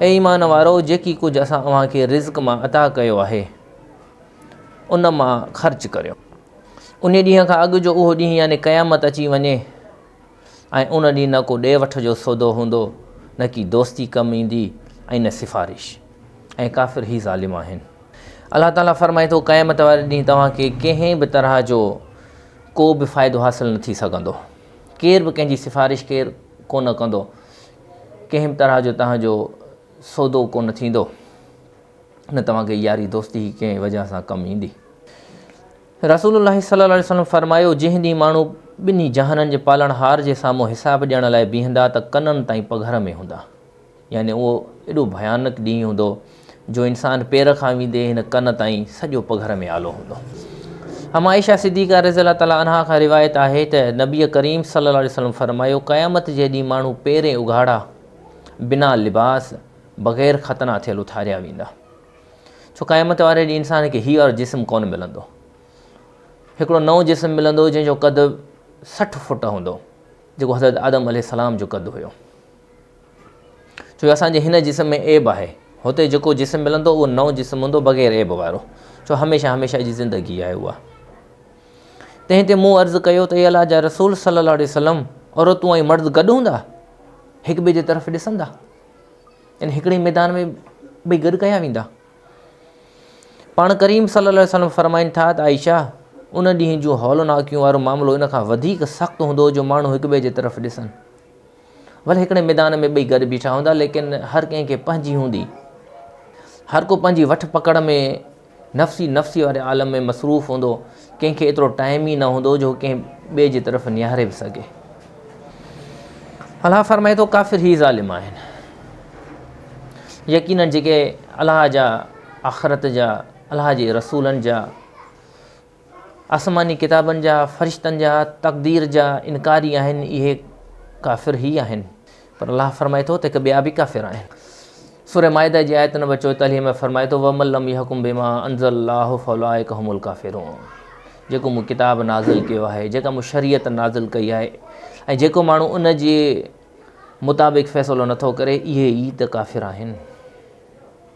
اي ايمان وارؤ! جيڪي ڪجهه اسان اوهان کي رزق مان عطا ڪيو آهي، ان مان خرچ ڪريو. انهيء ڏينهن کان اڳ جو اهو ڏينهن يعني قيامت اچي وڃي ۽ ان ڏينهن نه ڪو ڏي وٺ جو سودو هوندو، نه ڪي دوستي ڪم ايندي ۽ نه سفارش. ۽ ڪافر ئي ظالم آهن. الله تعاليٰ فرمائي ٿو، قيامت واري ڏينهن توهان کي ڪنهن به طرح جو ڪو به فائدو حاصل نه ٿي سگهندو. ڪير به ڪنهن جي سفارش ڪير ڪونه ڪندو. ڪنهن به طرح جو توهان جو سودو ڪونه ٿيندو، نه توهان کي ياري دوستي هي ڪنهن وجهه سان ڪم ايندي. رسول الله صلي الله عليه وسلم فرمايو، جنهن ڏينهن ماڻهو ٻنهي جهانن جي پالڻهار جي سامهون حساب ڏيڻ لاء بيهندا ته ڪنن تائين پگهر ۾ هوندا يعني اهو ايڏو ڀيانڪ ڏينهن هوندو، جو انسان پير کان ويندي هن ڪن تائين سڄو پگهر ۾ آلو هوندو. ام عائشه صديقه رضي الله تعالٰي عنها کان روايت آهي ته نبي ڪريم صلي الله عليه وسلم فرمايو، قيامت جي ڏينهن ماڻهو پيرين اگهاڙا، بنا لباس، بغير ختنا ٿيل اٿاريا ويندا. ڇو قيامت واري ڏينهن انسان کي هي اور جسم ڪون ملندو. هڪڙو نئون جسم ملندو جنهن جو قد سٺ فوٽ هوندو، جيڪو حضرت آدم عليه السلام جو قد هيو. ڇو جو اسان جي هن جسم ۾ عيب آهي. هتي جيڪو جسم ملندو اهو نئون جسم هوندو بغير عيب وارو. ڇو هميشه هميشه جي زندگي آهي اها. تنهن تي مون عرض ڪيو ته اي الله جا رسول صلي الله عليه وسلم عورتون ۽ مرد گڏ هوندا هڪ ٻئي جي طرف ڏسندا ان هڪڙي ميدان ۾ ٻئي گڏ ڪيا ويندا پاڻ ڪريم صلي الله علیه وسلم فرمائن ٿا ته عائشه ان ڏينهن جون هولناڪيون وارو معاملو ان کان وڌيڪ سخت هوندو جو ماڻهو هڪ ٻئي جي طرف ڏسن ڀلي هڪڙي ميدان ۾ ٻئي گڏ بيٺا هوندا ليڪن هر ڪنهن کي پنهنجي هوندي هر ڪو پنهنجي وٺ پڪڙ ۾ نفسي نفسي واري عالم ۾ مصروف هوندو ڪنهن کي ايترو ٽائم ئي نه هوندو جو ڪنهن ٻئي جي طرف نهاري به سگهي الله فرمائي ٿو ڪافر هي ظالم آهن يقينن جيڪي الله جا آخرت جا الله جي رسولن جا آسماني ڪتابن جا، فرشتن جا، تقدير جا انڪاري آهن اهي ڪافر هي آهن پر الله فرمائي ٿو ته هڪ ٻيا به ڪافر آهن. سورة مائده جي آيت نمبر چوئيتاليهه ۾ فرمائي ٿو ومن لم يحڪم بما انزل الله فاولئک هم الڪافرون جيڪو مون ڪتاب نازل ڪيو آهي جيڪا مون شريعت نازل ڪئي آهي ۽ جيڪو ماڻهو ان جي مطابق فيصلو نٿو ڪري اهي ئي ته ڪافر آهن.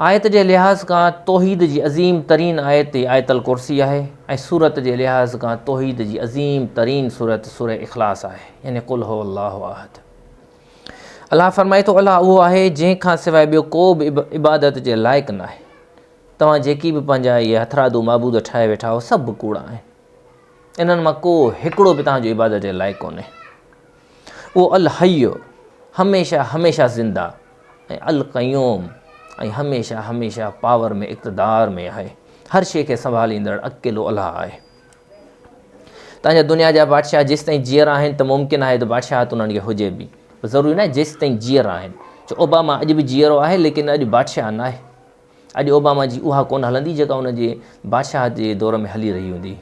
آيت جي لحاظ کان توحيد جي عظيم ترين آيت ئي آيت الڪرسي آهي ۽ سورت جي لحاظ کان توحيد جي عظيم ترين سورت سوره اخلاص آهي يعني قل هو الله احد. الله فرمائي ٿو الله اهو آهي جنهن کان سواء ٻيو ڪو به عبادت جي لائق ناهي. توهان جيڪي به پنهنجا اهي هٿرادو معبود ٺاهي ويٺا آهو سڀ ڪوڙا آهن. انهن مان ڪو هڪڙو به توهان جو عبادت جي لائق ڪونهي. اهو الحي، هميشه هميشه زنده، ۽ القيوم، ۽ هميشه هميشه پاور ۾ اقتدار ۾ آهي. هر شيء کي سنڀاليندڙ اڪيلو الله آهي. تنهن جا دنيا جا بادشاهه جيستائين جيئر آهن ته ممڪن آهي ته بادشاهت انهن کي هجي به. ضروري ناهي جيستائين جيئر آهن. ڇو اوباما اڄ به جيئرو آهي ليڪن اڄ بادشاهه ناهي. اڄ اوباما جي اها ڪونه هلندي جيڪا ان جي بادشاهت جي دور ۾ هلي رهي هوندي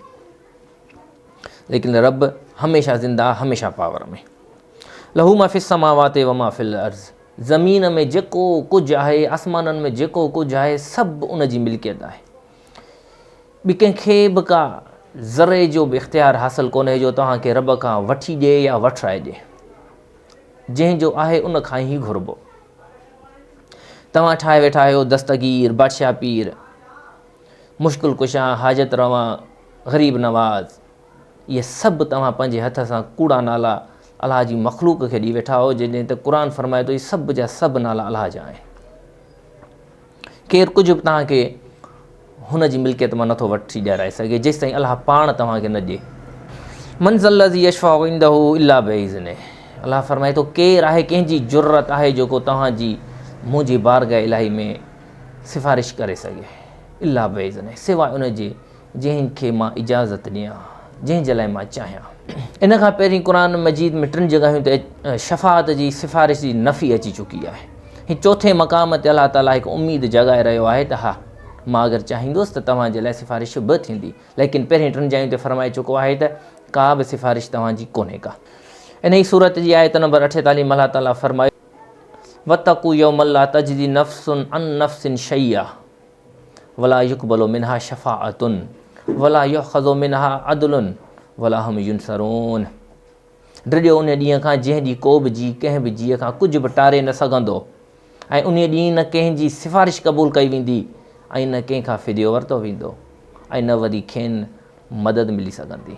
ليڪن رب هميشه زنده هميشه پاور ۾ لهو ما في السماوات وما في الارض زمين ۾ جيڪو ڪجهه آهي آسمانن ۾ جيڪو ڪجهه آهي سڀ ان جي ملڪيت آهي ٻي ڪنهن کي به ڪا ذري جو به اختيار حاصل ڪونهي جو توهان کي رب کان وٺي ڏي يا وٺرائي ڏي جنهن جو آهي ان کان ئي گهربو توهان ٺاهي ويٺا آهيو دستگير، بادشاهه پير، مشڪل ڪشا، حاجت روا، غريب نواز. اهي سڀ توهان پنهنجي هٿ سان ڪوڙا نالا الله جي مخلوق کي ڏئي ويٺا آهيو جڏهن ته قرآن فرمائي ٿو هي سڀ جا سڀ نالا الله جا آهن. ڪير ڪجهه به توهان کي هن جي ملڪيت مان نٿو وٺي ڏيارائي سگهي جيستائين الله پاڻ توهان کي نه ڏي من ذا الذي يشفع عنده الا باذنه الله فرمائي ٿو ڪير آهي ڪنهن جي جرت آهي جيڪو توهان جي منهنجي بارگاهه الهي ۾ سفارش ڪري سگهي الا باذنه سواء ان جي جنهن کي مان اجازت ڏيان، جنهن جي لاء مان چاهيان. ان کان پهرين قرآن مجيد ۾ ٽن جڳهين تي شفاعت جي سفارش جي نفي اچي چڪي آهي. هي چوٿين مقام تي الله تعاليٰ هڪ اميد جاڳائي رهيو آهي ته ها، مان اگر چاهيندس ته توهان جي لاء سفارش به ٿيندي. ليڪن پهرين ٽن جاين تي فرمائي چڪو آهي ته ڪا به سفارش توهان جي ڪونهي ڪا. انهيء سورت جي آيت نمبر اٺيتاليهه ۾ الله تعاليٰ فرمايو، واتقوا يوما لا تجزي نفس عن نفس شيئا. ولا يقبل منها شفاعة ولا يؤخذ منها عدل ولا هم ينصرون ڊڄو ان ڏينهن کان جنهن ڏينهن ڪو به جي ڪنهن به جيء کان ڪجهه به ٽاري نه سگهندو ۽ ان ڏينهن نه ڪنهن جي سفارش قبول ڪئي ويندي ۽ نه ڪنهن کان فديو ورتو ويندو ۽ نه وري کين مدد ملي سگهندي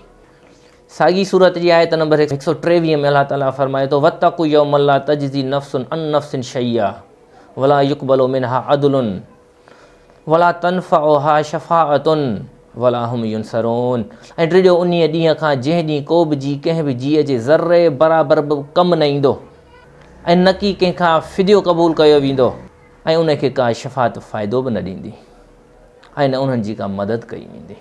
ساڳي سورت جي آيت نمبر هڪ سؤ ٽيويهه ۾ الله تعالي فرمائي ٿو واتقوا يوما لا تجزي نفس عن نفس شيئا ولا يقبل منها عدل ولا تنفعها شفاعة ولا هم ينصرون ۽ ڊڄو انهي ڏينهن کان جنهن ڏينهن ڪو به جي ڪنهن به جيء جي ذري برابر به ڪم نه ايندو ۽ نه ڪي ڪنهن کان فديو قبول ڪيو ويندو ۽ انهي کي ڪا شفاعت فائدو به نه ڏيندي ۽ نه انهن جي ڪا مدد ڪئي ويندي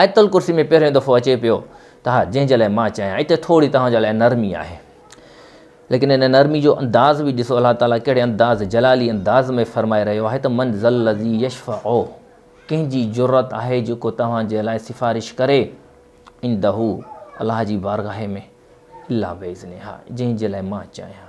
آيت الڪرسي ۾ پهريون دفعو اچي پيو ته ها جنهن جي لاء مان چاهيان اتي ٿوري توهان جي لاء نرمي آهي ليڪن ان نرمي جو انداز به ڏسو الله تعاليٰ ڪهڙي انداز جلالي انداز ۾ فرمائي رهيو آهي ته من ذل الذي يشفع ڪنهن جي جرت آهي جيڪو توهان جي لاء سفارش ڪري عنده الله جي بارگاهه ۾ الا باذنها جنهن جي لاء مان چاهيان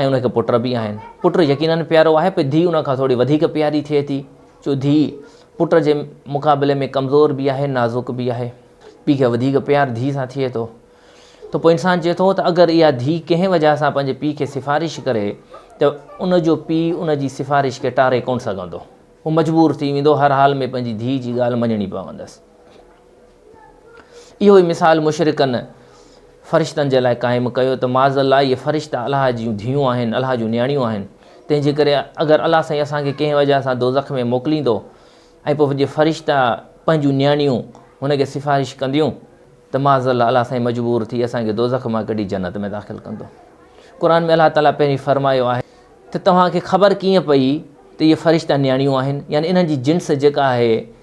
۽ ان کي پٽ به آهن. پٽ يقينن پيارو آهي پر ڌيء ان کان ٿوري وڌيڪ پياري ٿئي ٿي ڇو ڌيء پٽ جي مقابلي ۾ ڪمزور به آهي نازڪ به آهي. پيء کي وڌيڪ پيار ڌيء سان ٿئي ٿو ته پوء انسان چئي ٿو ته اگر اها ڌيء ڪنهن وجهه سان پنهنجي پيء کي سفارش ڪري ته ان جو پيء ان جي سفارش کي ٽاري ڪونه سگهندو. هو مجبور ٿي ويندو هر حال ۾ پنهنجي ڌيء جي ڳالهه مڃڻي پوندس. اهو ئي مثال مشرڪن فرشتن جي لاء قائم ڪيو ته معاذ الله اهي فرشتا الله جون ڌيئون آهن الله جون نياڻيون آهن تنهن جي ڪري اگر الله سائين اسان کي ڪنهن وجه سان دوزخ ۾ موڪليندو ۽ پوء جي فرشتا پنهنجون نياڻيون هن کي سفارش ڪنديون ته معاذ الله الله سائين مجبور ٿي اسان کي دوزخ مان ڪڍي جنت ۾ داخل ڪندو قرآن ۾ الله تعاليٰ پهرين فرمايو آهي ته توهان کي خبر ڪيئن پئي ته اهي فرشتا نياڻيون آهن يعني انهن جي جنس جيڪا آهي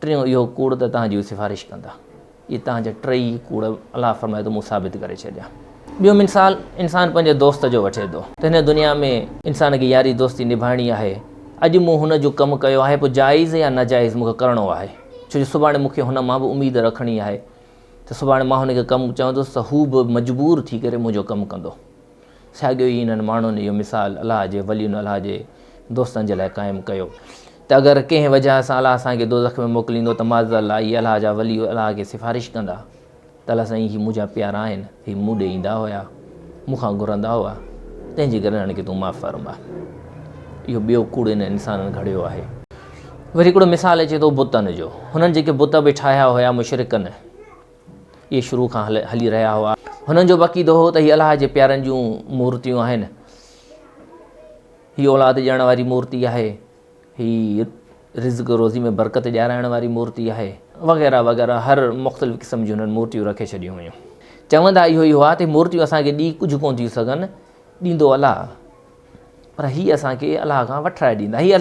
ٽيون اهو ڪوڙ ته توهان جي سفارش ڪندا. اهي توهان جا ٽيئي ڪوڙ الله فرمائي ته مون ثابت ڪري ڇڏيا. ٻيو مثال انسان پنهنجي دوست جو وٺي ٿو ته هن دنيا ۾ انسان کي ياري دوستي نڀائڻي آهي اڄ مون هن جو ڪم ڪيو آهي پوء جائز يا ناجائز مون کي ڪرڻو آهي ڇو جو سڀاڻي مون کي هن مان به اميد رکڻي آهي ته سڀاڻي مان هن کي ڪم چوندس ته هو به مجبور ٿي ڪري منهنجو ڪم ڪندو ساڳيو ئي انهن ماڻهن اهو مثال الله جي ولين الله جي دوستن جي لاء قائم ڪيو ته اگر ڪنهن وجهه سان الله اسان کي دوزخ ۾ موڪليندو ته معاذالله اهي الله جا ولي الله کي سفارش ڪندا ته الله سائين هي منهنجا پيارا آهن هي مون ڏي ايندا هيا مون کان گهرندا هئا تنهن جي ڪري هن کي تون معاف فرما اهو ٻيو ڪوڙ انهن انسانن گهڙيو آهي وري هڪڙو مثال اچي ٿو بتن جو هنن جيڪي بت به ٺاهيا هيا مشرڪن اهي شروع کان هلي رهيا هئا هنن جو عقيدو هو ته هي الله جي پيارن جون مورتيون آهن هي اولاد ڏيڻ واري مورتي آهي، هي رزق روزي ۾ برڪت ڏيارائڻ واري مورتي آهي وغيره وغيره هر مختلف قسم جون هنن مورتيون رکي ڇڏيون هيون. چوندا اهو ئي هئا ته هي مورتيون اسان کي ڏئي ڪجهه ڪونه ٿيون سگهن، ڏيندو الله پر هي اسان کي الله کان وٺرائي ڏيندا، هي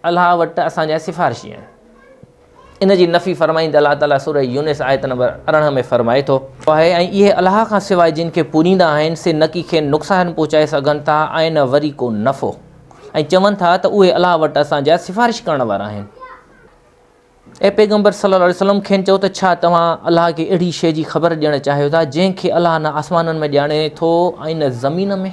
الله وٽ اسان جا سفارشي آهن. ان جي نفي فرمائيندي الله تعاليٰ سورة يونس آيت نمبر ارڙهن ۾ فرمائي ٿو. آهي ۽ اهي الله کان سواء جن کي پوڄيندا آهن سي نه ڪي کين نقصان پهچائي سگهن ٿا ۽ نه وري ڪو نفعو ۽ چون ٿا ته اهي الله وٽ اسان جا سفارش ڪرڻ وارا آهن. اي پيغمبر صلّي الله عليه وسلّم کين چئو ته ڇا توهان الله کي اهڙي شيء جي خبر ڏيڻ چاهيو ٿا جنهن کي الله نه آسمانن ۾ ڄاڻي ٿو ۽ نه زمين ۾؟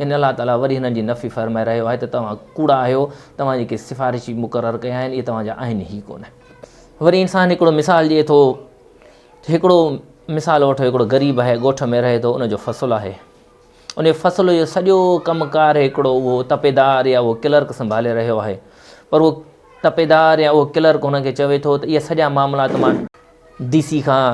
يعني الله تعاليٰ وري هنن جي نفي فرمائي رهيو آهي ته توهان ڪوڙا آهيو، توهان جيڪي سفارشي مقرر ڪيا آهن اهي توهان جا آهن ئي ڪونه. وري انسان هڪڙو مثال ڏئي ٿو ته هڪڙو مثال وٺو هڪڙو غريب آهي ڳوٺ ۾ رهي ٿو ان جو فصل آهي ان فصل جو سڄو ڪم ڪار هڪڙو اهو تپيدار يا اهو ڪلرڪ سنڀالي رهيو آهي پر اهو تپيدار يا اهو ڪلرڪ هن کي چوي ٿو ته اهي سڄا معاملات مان ڊي سي کان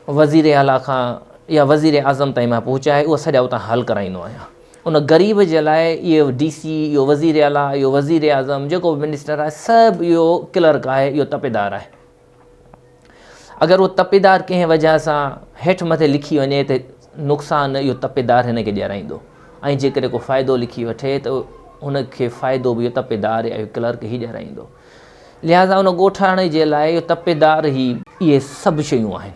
وزير اعليٰ کان يا وزير اعظم تائين مان پهچائي اهو سڄا اتان حل ڪرائيندو آهيان ان غريب جي لاء اهو ڊي سي اهو وزير اعليٰ اهو وزير اعظم جيڪو بي منسٽر آهي سڀ اهو ڪلرڪ آهي اهو تپيدار آهي اگر اهو تپيدار ڪنهن وجه سان هيٺ مٿي لکي وڃي ته نقصان اهو تپيدار هن کي ڏيارائيندو ۽ جيڪڏهن کو فائدو لکي وٺي ته هن کي فائدو به اهو تپيدار اهو ڪلرڪ هي ڏيارائيندو لهٰذا ان ڳوٺاڻي جي لاء اهو تپيدار هي. اهي سڀ شيون آهن.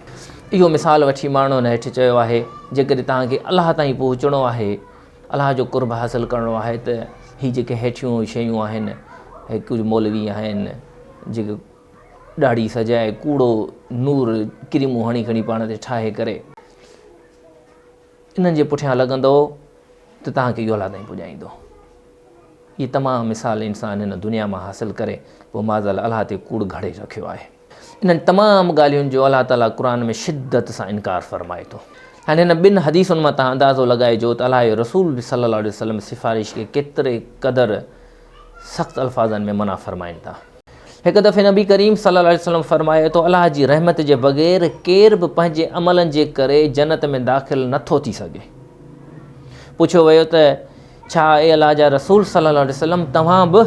اهو مثال وٺي ماڻهن هيٺ چيو آهي، جيڪڏهن توهان کي الله تائين پهچڻو آهي، الله جو قرب حاصل ڪرڻو آهي ته هي جيڪي هيٺيون شيون آهن، هي ڪجهه مولوي آهن، جيڪي ڏاڙهي سجائي ڪوڙو نور ڪريمون هڻي کڻي پاڻ تي ٺاهي ڪري. انهن جي پٺيان لڳندؤ ته توهان کي اهو الله تائين پڄائيندو. اهي تمام مثال انسان هن دنيا مان حاصل ڪري پوء معاذالله الله تي ڪوڙ گهڙي رکيو آهي. انهن تمام ڳالهين جو الله تعاليٰ قرآن ۾ شدت سان انڪار فرمائي ٿو. هاڻي هن ٻن حديثن مان توهان اندازو لڳائجو ته الله جو رسول به صلّي اللّٰه عليه وسلّم سفارش کي ڪيتري قدر سخت الفاظن ۾ منع فرمائن ٿا. هڪ دفعي نبي ڪريم صلي الله عليه وسلم فرمايو ته الله جي رحمت جي بغير ڪير به پنهنجي عملن جي ڪري جنت ۾ داخل نه ٿو ٿي سگهي پڇيو ويو ته ڇا اي الله جا رسول صلي الله عليه وسلم توهان به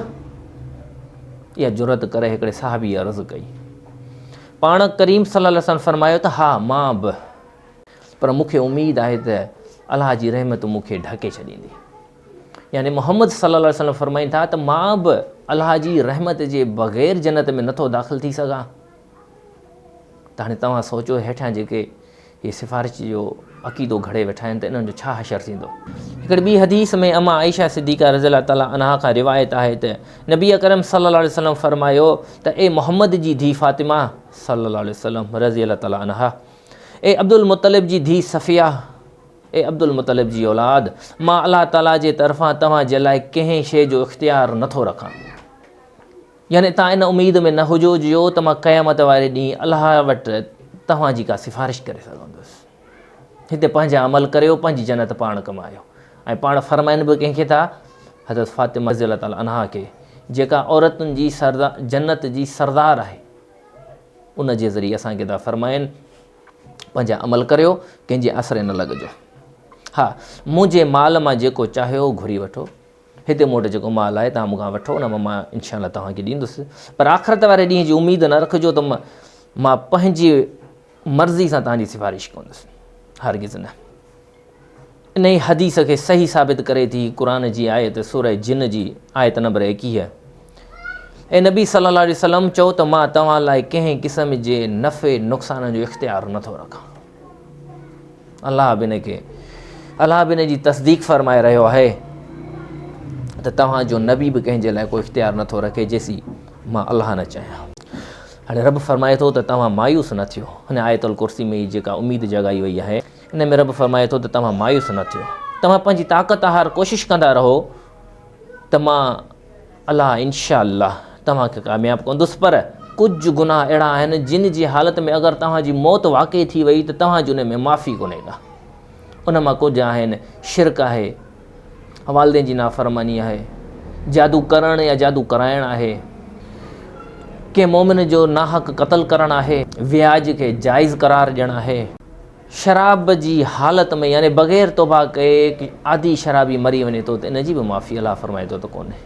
اها جرت ڪري هڪڙي صحابي عرض ڪئي پاڻ ڪريم صلي الله عليه وسلم فرمايو ته ها مان به پر مونکي اميد آهي ته الله جي رحمت مونکي ڍڪي ڇڏيندي يعني محمد صلّي اللّٰه عليه وسلّم فرمائن ٿا ته مان به الله جي رحمت جي بغير جنت ۾ نٿو داخل ٿي سگهان ته هاڻي توهان سوچو هيٺيان جيڪي هي سفارش جو عقيدو گھڙي ويٺا آهن ته انهن جو ڇا حشر ٿيندو هڪڙي ٻي حديث ۾ اما عائشه صديقه رضي الله تعالٰي عنها کان روايت آهي ته نبي اڪرم صلّي اللّٰه عليه وسلّم فرمايو ته اي محمد جي ڌي فاطمه صلّي اللّٰه عليه وسلّم رضي الله تعالٰي عنها اي عبدالمطلب جي ڌي صفيه اي عبدالمطلب جي اولاد! مان الله تعاليٰ جي طرفان توهان جي لاء ڪنهن شيء جو اختيار نه ٿو رکان. يعني توهان ان اميد ۾ نه هجو جو ته مان قيامت واري ڏينهن الله وٽ توهان جي ڪا سفارش ڪري سگهندس. هتي پنهنجا عمل ڪريو، پنهنجي جنت پاڻ ڪمايو ۽ پاڻ فرمائن به ڪنهن کي ٿا. حضرت فاطمه رضي الله تعالٰي عنها کي جيڪا عورتن جي جنت جي سردار آهي، ان جي ذريعي اسان کي ٿا فرمائن پنهنجا عمل ڪريو، ڪنهن جي آسري نه لڳجو. ها، مون جي مال مان جيڪو چاهيو اهو گهري وٺو. هتي مون وٽ جيڪو مال آهي، توهان مون کان وٺو، ان مان مان انشاء الله توهان کي ڏيندس. پر آخرت واري ڏينهن جي اميد نه رکجو ته مان پنهنجي مرضي سان توهان جي سفارش ڪندس. هرگز نه. انهيء حديث کي صحيح ثابت ڪري ٿي قرآن جي آيت سورة جن جي آيت نمبر ايڪيهه اي نبي صلي الله عليه وسلم چئو ته مان توهان لاء ڪنهن قسم جي نفع نقصان جو اختيار نٿو رکان الله به ان کي الله به ان جي تصديق فرمائي رهيو آهي ته توهان جو نبي به ڪنهن جي لاء ڪو اختيار نٿو رکي جيسي مان الله نه چاهيان هاڻي رب فرمائي ٿو ته توهان مايوس نه ٿيو هن آيت الڪرسي ۾ جيڪا اميد جڳائي وئي آهي ان ۾ رب فرمائي ٿو ته توهان مايوس نه ٿيو توهان پنهنجي طاقت آهر ڪوشش ڪندا رهو ته مان الله انشاء الله توهان کي ڪامياب ڪندس پر ڪجهه گناهه اهڙا آهن جن جي حالت ۾ اگر توهان جي موت واقعي ٿي وئي ته توهان جي ان ۾ معافي ڪونهي ڪا ان مان ڪجهه آهن شرڪ آهي والدين جي نافرماني آهي، جادو ڪرڻ يا جادو ڪرائڻ آهي، ڪنهن مؤمن جو ناحق قتل ڪرڻ آهي، وياج کي جائز قرار ڏيڻ آهي، شراب جي حالت ۾ يعني بغير توبه ڪئي عادي شرابي مري وڃي ٿو ته ان جي به معافي الله فرمائي ٿو ته ڪونهي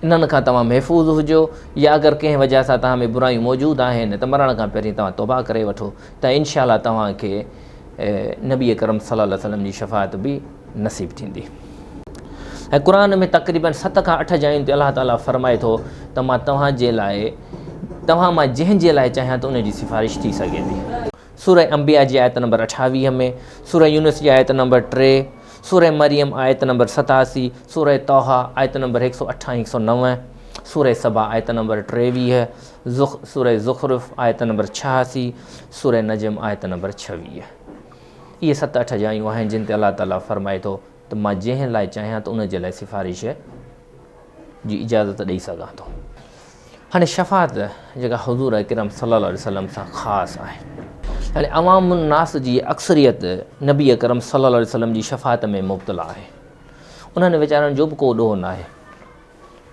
انهن کان توهان محفوظ هجو يا اگر ڪنهن وجہ سان توهان ۾ برايون موجود آهن ته مرڻ کان پهرين توهان توبه ڪري وٺو ته انشاءالله توهان کي نبي اڪرم صلي الله عليه وسلم جي شفاعت به نصيب ٿيندي ۽ قرآن ۾ تقريباً ست کان اٺ جاين تي الله تعالیٰ فرمائي ٿو ته مان توهان جي لاء توهان مان جنهن جي لاء چاهيان ته ان جي سفارش ٿي سگهي ٿي سورة انبياء جي آيت نمبر اٺاويهه ۾ سورة يونس جي آيت نمبر ٽي سورة مريم آيت نمبر ستاسي سورة طوحا آيت نمبر هڪ سؤ اٺ هڪ سؤ نو سورة سبا آيت نمبر ٽيويهه زخ، سورة زخرف، آيت نمبر ڇهاسي، سورة نجم، آيت نمبر ڇويهه. اهي ست اٺ جايون آهن جن تي الله تعاليٰ فرمائي ٿو ته مان جنهن لاء چاهيان ته ان جي لاء سفارش جي اجازت ڏئي سگهان ٿو. هاڻي شفاعت جيڪا حضور اڪرم صلي الله عليه وسلم سان خاص آهي. يعني عوام الناس جي اڪثريت نبي اڪرم صلي الله عليه وسلم جي شفاعت ۾ مبتلا آهي. انهن ويچارن جو به ڪو ڏوهه ناهي.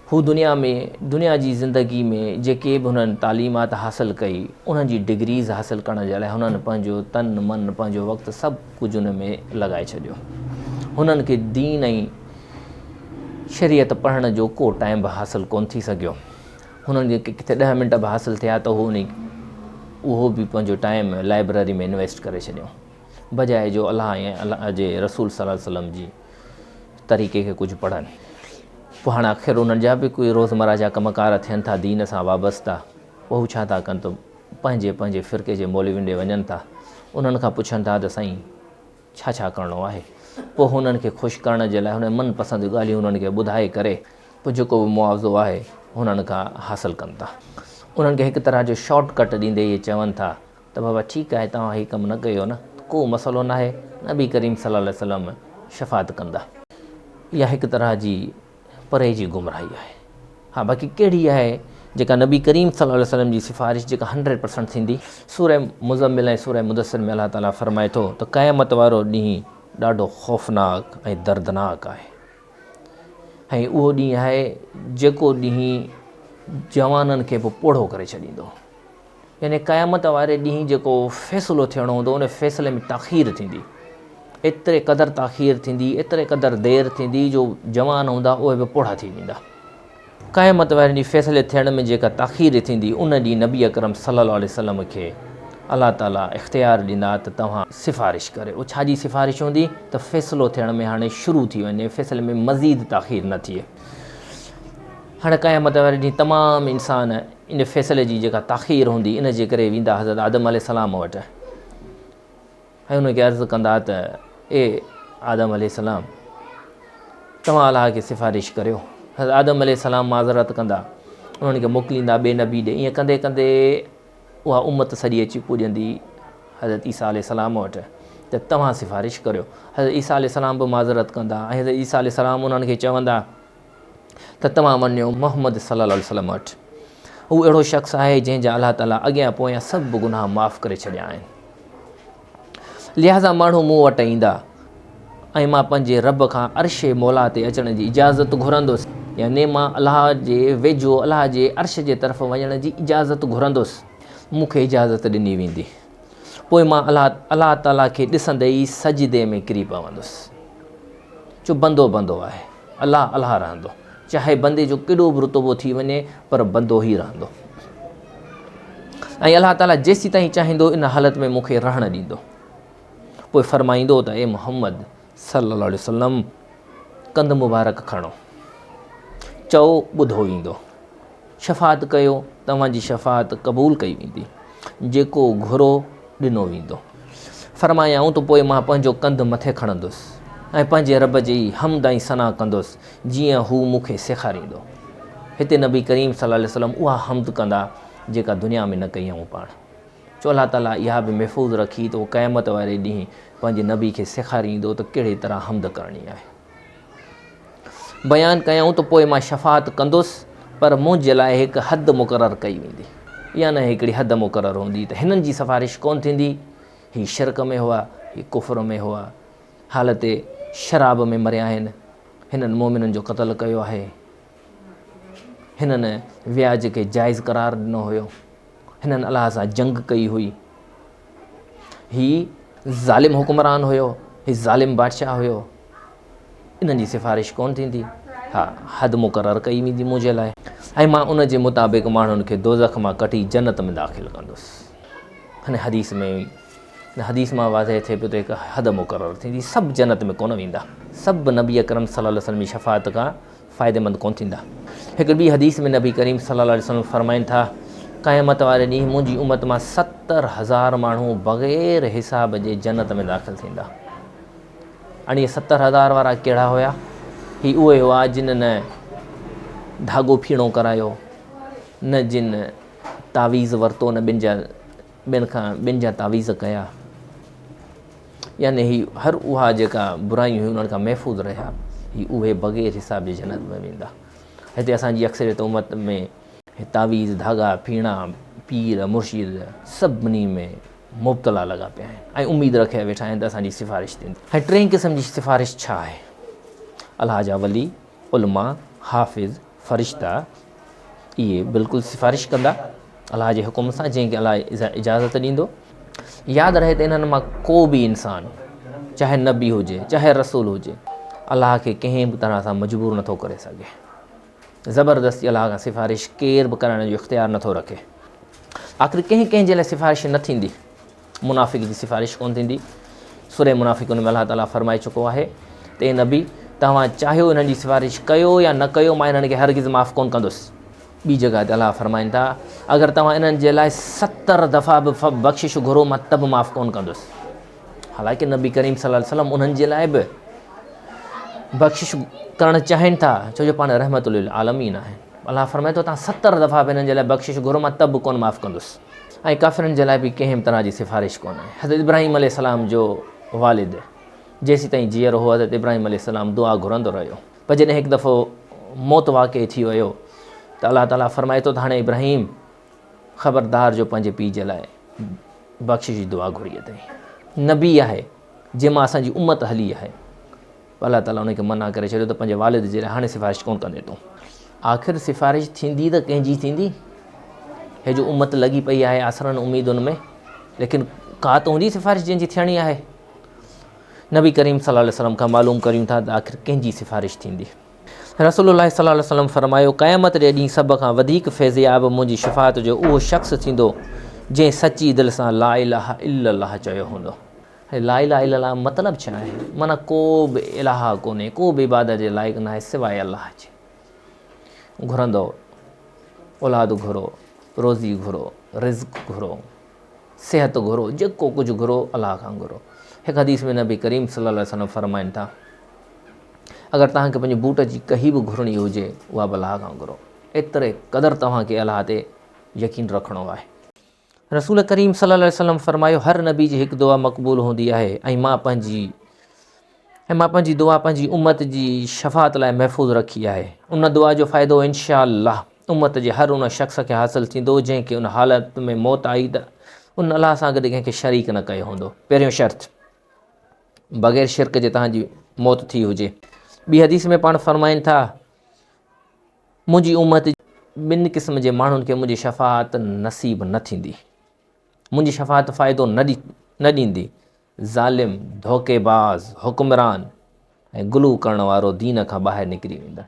هو دنيا ۾ دنيا جي زندگي ۾ جيڪي به هنن تعليمات حاصل ڪئي انهن جي ڊگريز حاصل ڪرڻ جي لاء هنن پنهنجو تن من پنهنجو وقت سڀ ڪجهه ان ۾ لڳائي ڇڏيو هنن کي دين ۽ شريعت پڙهڻ جو ڪو ٽائيم به حاصل ڪون ٿي سگهيو هنن کي ڪٿي ڏهه منٽ به حاصل ٿيا ته هو انهي اهو به پنهنجو ٽائيم لائبرري ۾ انويسٽ ڪري ڇڏيو بجاء جو الله ۽ الله جي رسول صلي الله عليه وسلم جي طريقي کي ڪجهه پڙهن پوء هاڻ آخر انهن جا به ڪوئي روزمره جا ڪم ڪار ٿين ٿا دين سان وابسته پوء هو ڇا ٿا ڪن ته پنهنجي پنهنجي فرقي جي مولوين ڏي وڃن ٿا انهن کان پڇن ٿا ته سائين ڇا ڇا ڪرڻو آهي پوء هنن کي خوش ڪرڻ جي لاء هن من پسند ڳالهيون هنن کي ٻڌائي ڪري پوء جيڪو به معاوضو آهي هنن کان حاصل ڪن ٿا انهن کي هڪ طرح جو شارٽ ڪٽ ڏيندي اهي چون ٿا ته بابا ٺيڪ آهي توهان هي ڪم نه ڪيو نه ته ڪو مسئلو ناهي نبي ڪريم صلي الله عليه وسلم شفاعت ڪندا. اها هڪ طرح جي پري جي گمراهي آهي. ها باقي ڪهڙي آهي جيڪا نبي ڪريم صلي الله عليه وسلم جي سفارش جيڪا هنڊريڊ پرسنٽ ٿيندي. سوره مزمل ۽ سوره مدثر ۾ الله تعالي فرمائي ٿو ته قيامت وارو ڏينهن ڏاڍو خوفناڪ ۽ دردناڪ آهي ۽ اهو ڏينهن آهي جيڪو ڏينهن جوانن کي به پوڙهو ڪري ڇڏيندو. يعني قيامت واري ڏينهن جيڪو فيصلو ٿيڻو هوندو ان فيصلي ۾ تاخير ٿيندي ايتري قدر تاخير ٿيندي ايتري قدر دير ٿيندي جو جوان هوندا اهي به پوڙها ٿي ويندا قيامت واري ڏينهن فيصلي ٿيڻ ۾ جيڪا تاخير ٿيندي ان ڏينهن نبي اڪرم صلي الله عليه وسلم کي الله تعالي اختيار ڏيندا ته توهان سفارش ڪريو ڇا جي سفارش هوندي ته فيصلو ٿيڻ ۾ هاڻي شروع ٿي وڃي فيصلي ۾ مزيد تاخير نه ٿئي هاڻي قيامت واري ڏينهن تمام انسان ان فيصلي جي جيڪا تاخير هوندي ان جي ڪري ويندا حضرت آدم عليه السلام وٽ ۽ ان کي عرض ڪندا ته اي آدم عليه السلام توهان الله کي سفارش ڪريو حضرت آدم عليه السلام معذرت ڪندا انهن کي موڪليندا ٻئي نبي ڏي ائين ڪندي ڪندي اها امت سڄي اچي پوڄندي حضرت عيسیٰ عليه السلام وٽ ته توهان سفارش ڪريو حضرت عيسیٰ عليه السلام به معذرت ڪندا ۽ حضرت عيسیٰ عليه السلام انهن کي چوندا ته توهان وڃو محمد صلّي اللّٰه عليه وسلّم وٽ هو اهڙو شخص آهي جنهن جا الله تعاليٰ اڳيان پويان سڀ گناهه معاف ڪري ڇڏيا آهن لهٰذا ماڻهو مون وٽ ايندا ۽ مان پنهنجي رب کان عرش مولا تي اچڻ جي اجازت گهرندس يعني مان الله جي ويجهو الله جي عرش جي طرف وڃڻ جي اجازت گهرندس مون کي اجازت ڏني ويندي پوء مان الله الله تعاليٰ کي ڏسندي ئي سجدي ۾ ڪري پوندس جو بندو بندو آهي الله الله رهندو. چاهي بندي جو ڪيڏو به رتبو ٿي وڃي پر بندو ئي رهندو. ۽ الله تعالي جيسيتائين چاهيندو ان حالت ۾ مون کي رهڻ ڏيندو. پوء فرمائيندو ته اي محمد صلي الله عليه وسلم ڪنڌ مبارڪ کڻو. چئو ٻڌو ويندو. شفاعت ڪيو توهان جي شفاعت قبول ڪئي ويندي جيڪو گهرو ڏنو ويندو. فرمايائون ته پوء مان پنهنجو ڪنڌ مٿي کڻندس ۽ پنهنجي رب جي حمد ۽ ثنا ڪندس جيئن هو مون کي سيکاريندو. هتي نبي ڪريم صلي الله عليه وسلم اها حمد ڪندا جيڪا دنيا ۾ نه ڪئي هئون پاڻ چو الله تعالي اها به محفوظ رکي ته هو قيامت واري ڏينهن پنهنجي نبي کي سيکاريندو ته ڪهڙي طرح حمد ڪرڻي آهي. بيان ڪيائون ته پوء مان شفاعت ڪندس پر منهنجي لاء هڪ حد مقرر ڪئي ويندي يا نه هڪڙي حد مقرر هوندي ته هنن جي سفارش ڪونه ٿيندي هي شرڪ ۾ هئا هي ڪفر ۾ هئا حالت شراب ۾ مريا آهن هنن مومنن جو قتل ڪيو آهي هنن وياج کي جائز قرار ڏنو هيو هنن الله سان جنگ ڪئي هئي هي ظالم حڪمران هيو هي ظالم بادشاهه هيو انهن جي سفارش ڪون ٿيندي ها حد مقرر ڪئي ويندي منهنجي لاء ۽ مان ان جي مطابق ماڻهن کي دوزخ مان ڪٽي جنت ۾ داخل ڪندس هن حديث ۾ هن حديث مان واضح ٿئي پيو ته هڪ حد مقرر ٿيندي سڀ جنت ۾ ڪون ويندا سڀ نبي اڪرم صلي الله علیه وسلم جي شفاعت کان فائديمند ڪونه ٿيندا. هڪ ٻي حديث ۾ نبي ڪريم صلي الله عليه وسلم فرمائن ٿا، قيامت واري ڏينهن منهنجي امت مان ستر هزار ماڻهو بغير حساب جي جنت ۾ داخل ٿيندا. اڻي ستر هزار وارا ڪهڙا هيا؟ هي اهي هئا جن نه ڌاڳو ڦيڻو ڪرايو، نه جن تعويذ ورتو، نه ٻن جا ٻين کان ٻين جا تعويذ ڪيا يعني هي هر اها جيڪا برايون هيون انهن کان محفوظ رهيا هي اهي بغير حساب جي جنت ۾ ويندا هتي اسان جي اڪثريت امت ۾ تعويذ ڌاڳا پيڻا پير مرشد سڀني ۾ مبتلا لڳا پيا آهن ۽ اميد رکي ويٺا آهن ته اسان جي سفارش ٿيندي هي ٽين قسم جي سفارش ڇا آهي الله جا ولي علماء حافظ فرشتا اهي بلڪل سفارش ڪندا الله جي حڪم سان جنهن کي الله اجازت ڏيندو ياد رهي ته انهن مان ڪو به انسان چاهي نبي هجي چاهي رسول هجي الله کي ڪنهن به طرح سان مجبور نٿو ڪري سگهي زبردستي الله کان سفارش ڪير به ڪرائڻ جو اختيار نٿو رکي آخر ڪنهن ڪنهن جي لاء سفارش نه ٿيندي منافق جي سفارش ڪونه ٿيندي. سورة منافقون ۾ الله تعاليٰ فرمائي چڪو آهي ته اي نبي! توهان چاهيو انهن جي سفارش ڪيو يا نه ڪيو مان انهن کي هرگز معاف ڪونه ڪندس. ٻي جڳهه تي الله فرمائن ٿا، اگر توهان انهن جي لاء ستر دفعا به بخشش گهرو مان ته به معاف ڪونه ڪندس. حالانڪه نبي ڪريم صلي الله عليه وسلم انهن جي لاء به بخشش ڪرڻ چاهين ٿا ڇو جو پاڻ رحمت للعالمين آهن. الله فرمائي ٿو توهان ستر دفعا به انهن جي لاء بخشش گهرو مان ته به ڪونه معاف ڪندس. ۽ ڪافرن جي لاء به ڪنهن به طرح جي سفارش ڪونه. حضرت ابراهيم عليه السلام جو والد جيسيتائين جيئرو هو حضرت ابراهيم عليه السلام دعا گهرندو رهيو پر جڏهن هڪ دفعو موت واقع ٿي ويو ته الله تعالي فرمائي ٿو ته هاڻي ابراهيم خبردار جو پنهنجي پيء جي لاء بخشش جي دعا گهري اٿئي نبي آهي جنهن مان اسان جي امت هلي آهي. الله تعاليٰ انهن کي منع ڪري ڇڏيو ته پنهنجي والد جي لاء هاڻي سفارش ڪونه ڪندين تون. آخر سفارش ٿيندي ته ڪنهن جي ٿيندي؟ هي جو امت لڳي پئي آهي آسرن اميدن ۾ ليڪن ڪا ته هوندي سفارش جنهن جي ٿيڻي آهي. نبي ڪريم صلي الله عليه وسلم کان معلوم ڪريون ٿا ته آخر ڪنهن جي سفارش ٿيندي؟ رسول الله صلي الله عليه وسلم فرمايو، قيامت جي ڏينهن سڀ کان وڌيڪ فيضياب منهنجي شفاعت جو اهو شخص ٿيندو جنهن سچي دل سان لا اله الا الله چيو هوندو. لا اله الا الله مطلب ڇا آهي؟ معنيٰ ڪو به الاهه ڪونهي، ڪو به عبادت جي لائق ناهي سواء الله جي. گهرندؤ، اولاد گهرو، روزي گهرو، رزق گهرو، صحت گهرو، جيڪو ڪجهه گهرو الله کان گهرو. هڪ حديث ۾ نبي ڪريم صلي الله عليه وسلم فرمائن ٿا اگر توهان کي پنهنجي بوٽ جي ڪهي به گهرڻي هجي اها به الله کان گهرو. ايتري قدر توهان کي الله تي يقين رکڻو آهي. رسول ڪريم صلي الله عليه وسلم فرمايو هر نبي جي هڪ دعا مقبول هوندي آهي ۽ مان پنهنجي ۽ مان پنهنجي دعا پنهنجي امت جي شفاعت لاء محفوظ رکي آهي ان دعا جو فائدو انشاء الله امت جي هر ان شخص کي حاصل ٿيندو جنهن کي ان حالت ۾ موت آئي ته ان الله سان گڏ ڪنهن کي شريڪ نه ڪيو هوندو پهريون شرط بغير شرڪ جي تهان جي موت ٿي هجي ٻي حديث ۾ پاڻ فرمائن ٿا منهنجي امت جي ٻن قسم جي ماڻهن کي منهنجي شفاعت نصيب نه ٿيندي، منهنجي شفاعت فائدو نه ڏيندي، ظالم، ڌوڪي باز، حڪمران ۽ غلو ڪرڻ وارو دين کان ٻاهر نڪري ويندڙ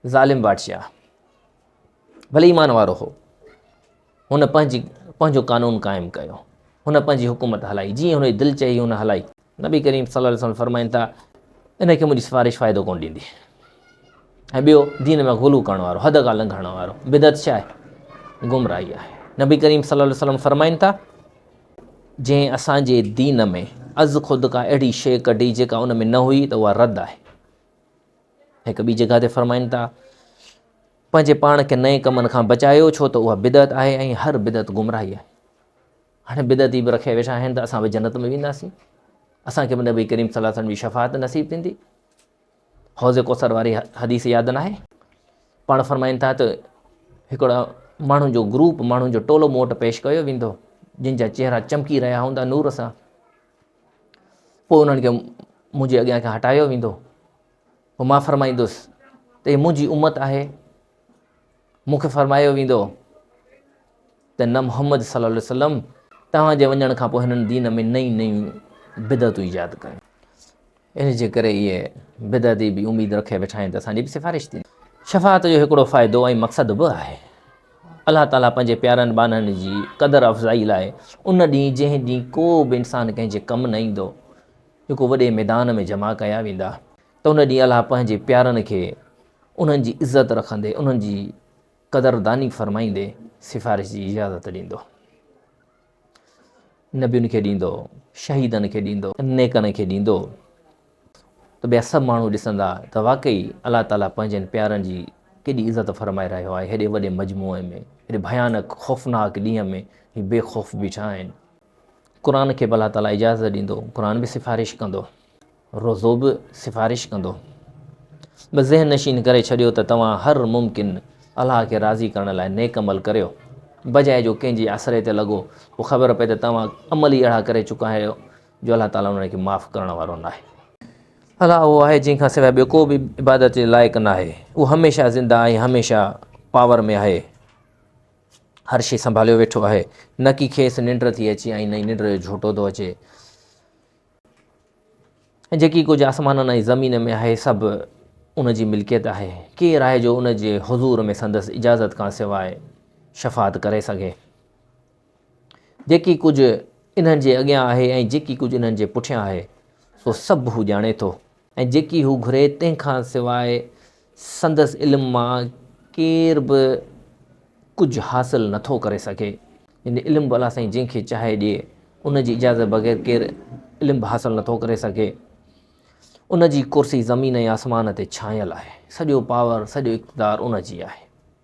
ظالم بادشاهه ڀلي ايمان وارو هو هن پنهنجي پنهنجو قانون قائم ڪيو، هن پنهنجي حڪومت هلائي، جيئن هن جي دل چئي هن هلائي. نبي ڪريم صلي الله عليه وسلم فرمائن ٿا، ان کي منهنجي سفارش فائدو ڪونه ڏيندي. ۽ ٻيو دين ۾ غلو ڪرڻ وارو، حد کان لنگهڻ وارو، بدعت ڇا آهي؟ گمراهي آهي. نبي ڪريم صلي الله عليه وسلم فرمائن ٿا، جنهن اسان جي دين ۾ از خود ڪا اهڙي شيء ڪڍي جيڪا ان ۾ نه هئي ته اها رد آهي. هڪ ٻي جڳهه تي فرمائن ٿا، پنهنجي پاڻ کي نئين ڪمن کان بچايو ڇو ته اها بدعت آهي ۽ هر بدعت گمراهي آهي. هاڻي بدعتي به رکي ويٺا آهن ته اسان به جنت ۾ وينداسين، اسان کي به نبي ڪريم صلي الله عليه وسلم جي شفاعت نصيب ٿيندي. حوض ڪوثر واري حديث ياد ناهي؟ پاڻ فرمائن ٿا ته هڪڙا ماڻهن جو گروپ ماڻهن جو ٽولو مون وٽ پيش ڪيو ويندو جن جا چهرا چمڪي رهيا هوندا نور سان پوء انهن کي منهنجي اڳيان کان هٽايو ويندو پوء مان فرمائيندس ته هي منهنجي امت آهي، مون کي فرمايو ويندو ته نه محمد صلي الله عليه وسلم توهان جي وڃڻ کان پوء هنن دين ۾ نئين نئيون بدعتون ايجاد ڪيون ان جي ڪري اهي بدعتي به اميد رکي ويٺا آهن ته اسان جي به سفارش ٿيندي شفاعت جو هڪڙو فائدو ۽ مقصد به آهي الله تعاليٰ پنهنجي پيارن ٻانهن جي قدر افزائي لاء ان ڏينهن جنهن ڏينهن ڪو به انسان ڪنهن جي ڪم نه ايندو جيڪو وڏي ميدان ۾ جمع ڪيا ويندا ته ان ڏينهن الله پنهنجي پيارن کي انهن جي عزت رکندي انهن جي قدرداني فرمائيندي سفارش جي اجازت ڏيندو نبين کي ڏيندو شهيدن کي ڏيندو نيڪن کي ڏيندو ته ٻيا سڀ ماڻهو ڏسندا ته واقعي الله تعالیٰ پنهنجن پيارن جي ڪيڏي عزت فرمائي رهيو آهي هيڏي وڏي مجموعي ۾ هيڏي ڀيانڪ خوفناڪ ڏينهن ۾ هي بي خوف بيٺا آهن قرآن کي به الله تعاليٰ اجازت ڏيندو، قرآن به سفارش ڪندو، روزو به سفارش ڪندو. بس ذهن نشين ڪري ڇڏيو ته توهان هر ممڪن الله کي راضي ڪرڻ لاء نيڪ عمل ڪريو، بجاء جو ڪنهن جي آسري تي لڳو، پوء خبر پئي ته توهان عمل ئي اهڙا ڪري چڪا آهيو جو الله تعاليٰ انهن کي معاف ڪرڻ وارو ناهي. الله اهو آهي جنهن کان سواء ٻيو ڪو به عبادت جي لائق ناهي، اهو هميشه زنده ۽ هميشه پاور ۾ آهي. هر شيء سنڀاليو ويٺو آهي. نه ڪي کيس ننڊ ٿي اچي ۽ نه ئي ننڊ جو جهوٽو ٿو اچي. ۽ جيڪي ڪجهه آسمانن ۽ زمين ۾ آهي سڀ ان جي ملڪيت آهي. ڪير آهي جو ان جي حضور ۾ سندس اجازت کان سواء شفاعت ڪري سگهي. جيڪي ڪجهه انهن جي اڳيان آهي ۽ جيڪي ڪجهه انهن جي پٺيان آهي سو سڀ هو ڄاڻي ٿو. ۽ جيڪي هو گهري تنهن کان سواء سندس علم مان ڪير به ڪجهه حاصل نه ٿو ڪري سگهي يعني علم به الله سائين جنهن کي چاهي ڏي ان جي اجازت بغير ڪير علم به حاصل نٿو ڪري سگهي ان جي ڪرسي زمين ۽ آسمان تي ڇانيل آهي سڄو پاور سڄو اقتدار ان جي آهي